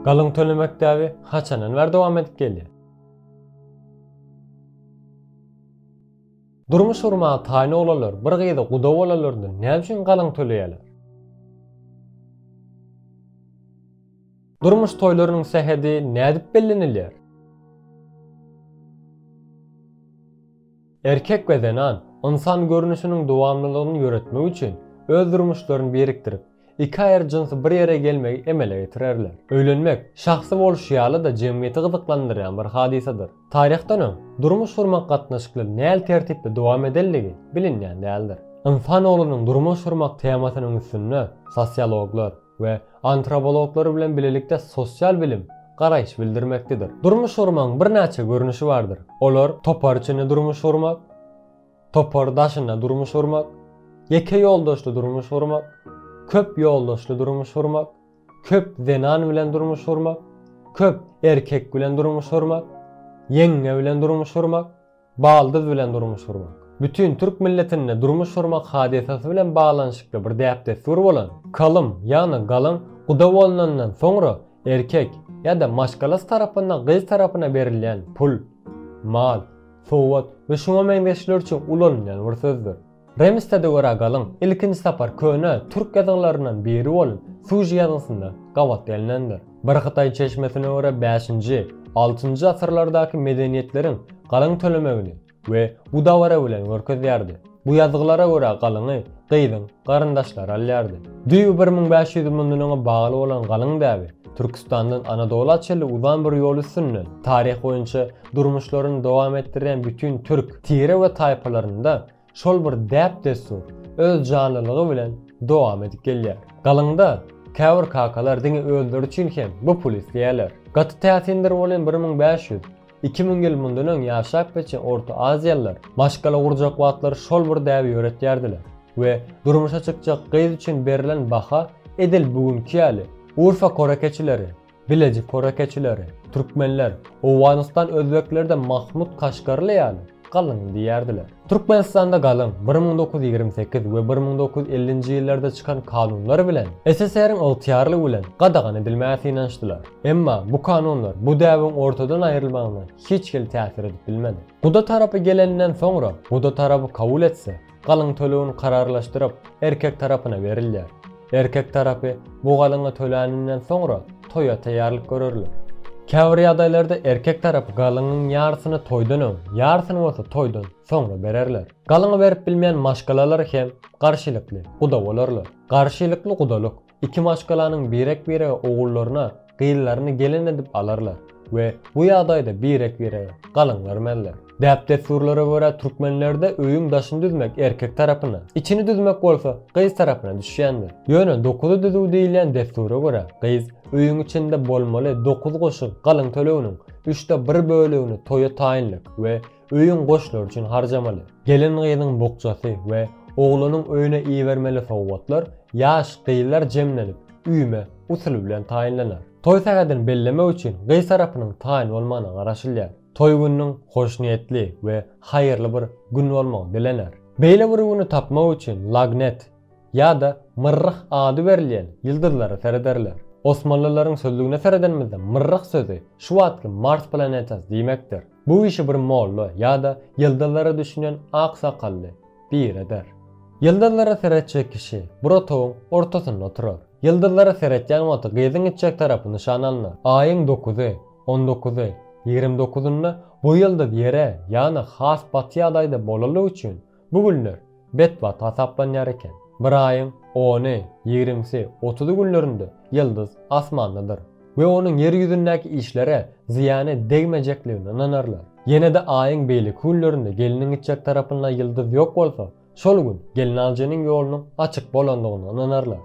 Galyň tölemek däbi haçandan bäri dowam edip gelýär? Durmuş gurmaga taýyn oglanlar bir gyza guda bolanlarynda näme üçin galyň töleýärler? Durmuş toýlarynyň sähedi nädip bellenilýär? Erkek we zenan ynsan görnüşiniň dowamlylygyny ýöretmek üçin öz durmuşlaryny birikdirip, Iki aýry jynsy bir ýere gelmegi emele getirerler. Öýlenmek, şahsy bolşy ýaly-da jemgyýeti gyzyklandyrýan bir hadysadyr. Taryhdan öň, durmuş gurmak gatnaşyklary näl tertipde dowam edendigi bilinýän däldir. Ynsan oglunyň durmuş gurmak temasynyň üstünde sosiologlar we antrobologlar bilen bilelikde sosial bilim garaýyş bildirmekdedir. Durmuş gurmagyň birnäçe görnüşi bardyr. Olar, topar içinde durmuş gurmak, Topar daşynda durmuş gurmak, ýeke ýoldaşly durmuş gurmak, köp ýoldaşly durmuş gurmak, köp zenan bilen durmuş gurmak, köp erkek bilen durmuş gurmak, ýeňňe bilen durmuş gurmak, baldyz bilen durmuş gurmak. Bütin türk milletinde durmuş gurmak hadysasy bilen baglanyşykly bir däp-dessur bolan, kalym ýagny galyň guda bolnandan soňra erkek ýa-da maşgalasy tarapyndan gyz tarapyna berilýän pul, mal, sowat we şuňa meňzeşler üçin ulanylýan bir sözdür. Remistede görä galyň ilkinji sapar köne türk ýazgylaryndan biri bolan Suji ýazgysynda gabat gelnendir. Bir hytaý çeşmesine görä bäşinji, altynjy asyrlardaky medeniýetleriň galyň tölemegini we bu dabara bilen görkezýärdi. Bu ýazgylara görä galyňy gyzyň garyndaşlary alýardy. Düýbi bir müň bäş ýüz ýyl mundan öňe bagly bolan galyň däbi Türküstandan Anadola çenli uzan bir ýol üstünden taryh boýunça durmuşlaryny dowam etdirýän bütin türk tire we taýpalarynda şol bir däp-dessur öz janlylygy bilen dowam edip gelýär. Galyňda käbir kakalar diňe özleri üçin hem bu puly isleýärler. Gaty täsindir bolýan bir müň bäş ýüz. Iki müň ýyl mundan öň ýaşap geçen orta aziýalylar maşgala gurjak wagtlary şol bir däbi ýöretýärdiler we durmuşa çykjak gyz üçin berlen baha edil bu günki ýaly Urfa korekeçileri, Bileji korekeçileri, türkmenler, Owganystan özbekleri-de Mahmut Kaşgarly ýaly Galyň diýerdiler. Türkmenistanda galyň bir müň dokuz ýüz ýigrimi sekiz we bir müň dokuz ýüz ellinji ýyllarda çykan kanunlar bilen SSR-iň ygtyýarlygy bilen gadagan edilmäge synanyşdylar. Emma bu kanunlar bu däbiň ortadan aýrylmagyna hiç hili täsir edip bilmedi. Guda tarapy geleninden soňra, guda tarapy kabul etse, galyň tölegini kararlaşdyryp, erkek tarapyna berilýär. Erkek tarapy bu galyňy töläninden soňra toýa taýýarlyk görerler. Käbir ýagdaýlarda erkek tarapy galyňyň ýarysyny toýdan öň, ýarysyny bolsa toýdan soňra bererler. Galyňy berip bilmeýän maşgalalar hem garşylykly guda bolarlar. Garşylykly gudalyk Iki maşgalanyň birek-birege ogullaryna gyzlaryny gelin edip alarlar we bu ýagdaýda birek-birege galyň bermezler. Däp-dessurlara görä türkmenlerde öýüň daşyny düzmek erkek tarapyna, içini düzmek bolsa gyz tarapyna düşýändir. Ýöne dokuzy düzüw diýilýän dessura görä gyz öýüň içinde bolmaly dokuz goşun galyň töleginiň üçde bir bölegini toýa taýynlyk we Öýüň goşlary üçin harjamaly. Gelin-gyzyň bukjasy we oglanyň öýüne ibermeli sowgatlar ýaş gyzlar jemlenip, üýme, usuly bilen taýynlanar. Toý sähedini bellemek üçin gyz tarapynyň taýyn bolmagyna garaşylýar. Toý gününiň hoşniýetli we haýyrly bir gün bolmagy dilener. Beýle bir güni tapmak üçin Lagnet ýa-da Myrryh ady berilýän ýyldyzlara serederler. Osmanlylaryň sözlügine seredenimizde Myrryh sözi şu wagtky Mars planetasy diýmekdir. Bu işi bir molla ýa-da ýyldyzlara düşünen ak sakally bir eder. Ýyldyzlara seretjek kişi bir otagyň ortasynda oturar. Ýyldyzlara seretýän wagty gyzyň itjek tarapy nyşan alnar. Aýyň dokuzy, on dokuzy, ýigrimi dokuzynda bu ýyldyz ýere, ýagny has baty ýagdaýda bolalygy üçin, Bu günler betbagt hasaplanýar eken. Bir aýyň ony, ýigrimisi, otuzy günlerinde ýyldyz asmandadyr we onuň ýer ýüzündäki işlere zyýany degmejekligine ynanarlar. Ýene-de aýyň beýleki günlerinde gelniň gitjek tarapynda ýyldyz ýok bolsa, şol gün gelnaljynyň ýolunyň açyk bolandygyna ynanarlar.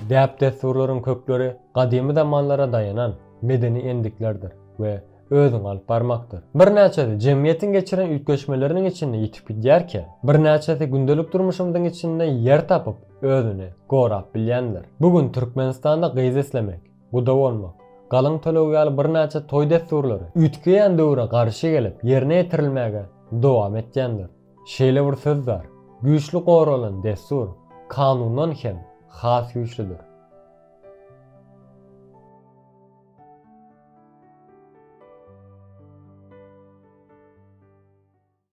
Däp-dessurlaryň kökleri gadymy zamanlara daýanan medeni endiklerdir we özüňi alyp barmakdyr. Birnäçesi jemgyýetiň geçiren üýtgeşmeleriniň içinde ýitip gidýärkä, birnäçesi gündelik durmuşymyzyň içinde ýer tapyp, özüni gorap bilýändir. Bu gün Türkmenistanda gyz islemek, guda bolmak, galyň töleg ýaly birnäçe toý dessurlary üýtgeýän döwre garşy gelip, ýerine ýetirilmäge dowam etýändir. Şeýle bir söz bar, Güýçli goralan dessur kanundan hem has güýçlüdir.